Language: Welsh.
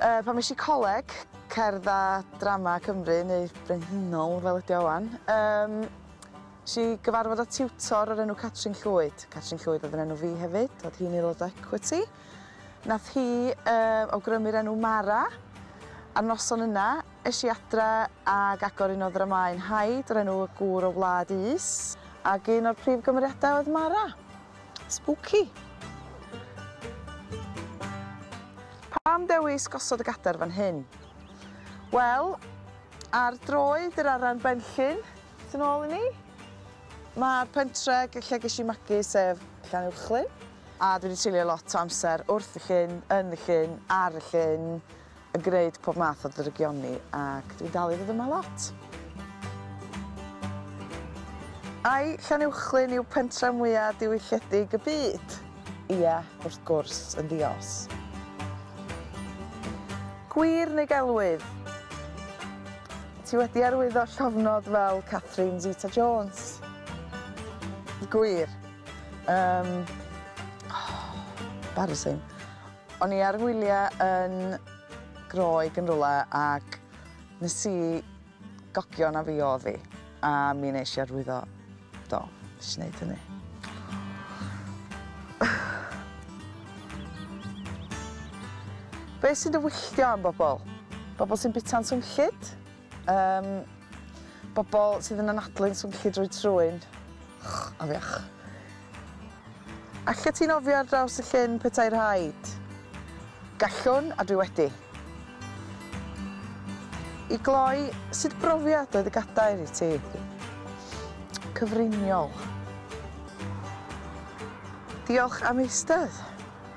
Yy pan es i coleg, Cerdd a Drama Cymru, neu Brenhinol fel ydi o ŵan, yym es i gyfarfod â tiwtor o'r enw Catrin Llwyd. Catrin Llwyd oedd yn enw fi hefyd, oedd hi'n aelod o Equity. Nath hi yy awgrymu'r enw Mara. A'r noson yna, es i adre ag agor un o ddramau'n Hyde o'r enw Y Gŵr o Wlad Is, ac un o'r prif gymeriadau oedd Mara. Spooky! Pam dewis gosod y gadair fan hyn? Wel, ar droed yr Aran Benllyn, tu nôl i ni, mae'r pentre lle ges i magu sef Llanuwchllyn, a dwi wedi treulio lot o amser wrth y llyn, yn y llyn, ar y llyn, yn gwneud pob math o ddrygioni ac dwi'n dal i ddod yma lot. Ai Llanuwchllyn yw pentref mwya diwylledig y byd? Ie, wrth gwrs, yn ddi-os. Gwir neu gelwydd? Ti wedi arwyddo llofnod fel Catherine Zeta Jones? Gwir. Um, oh, embarrassing. O'n i ar fy ngwyliau yn Groeg yn rywle ac nes i gogio na fi oedd hi a mi nes i arwyddo. Do, nes i wneud hynny. Be sy'n dy wylltio am bobl? Bobl sy'n bita'n swnllyd? Yym, bobl sydd yn anadlu'n swnllyd drwy trwyn. Ych, afiach. Allet ti nofio ar draws y llyn petai rhaid? Gallwn, a dwi wedi. I gloi, sut brofiad oedd y gadair i ti? Cyfriniol. Diolch am eistedd.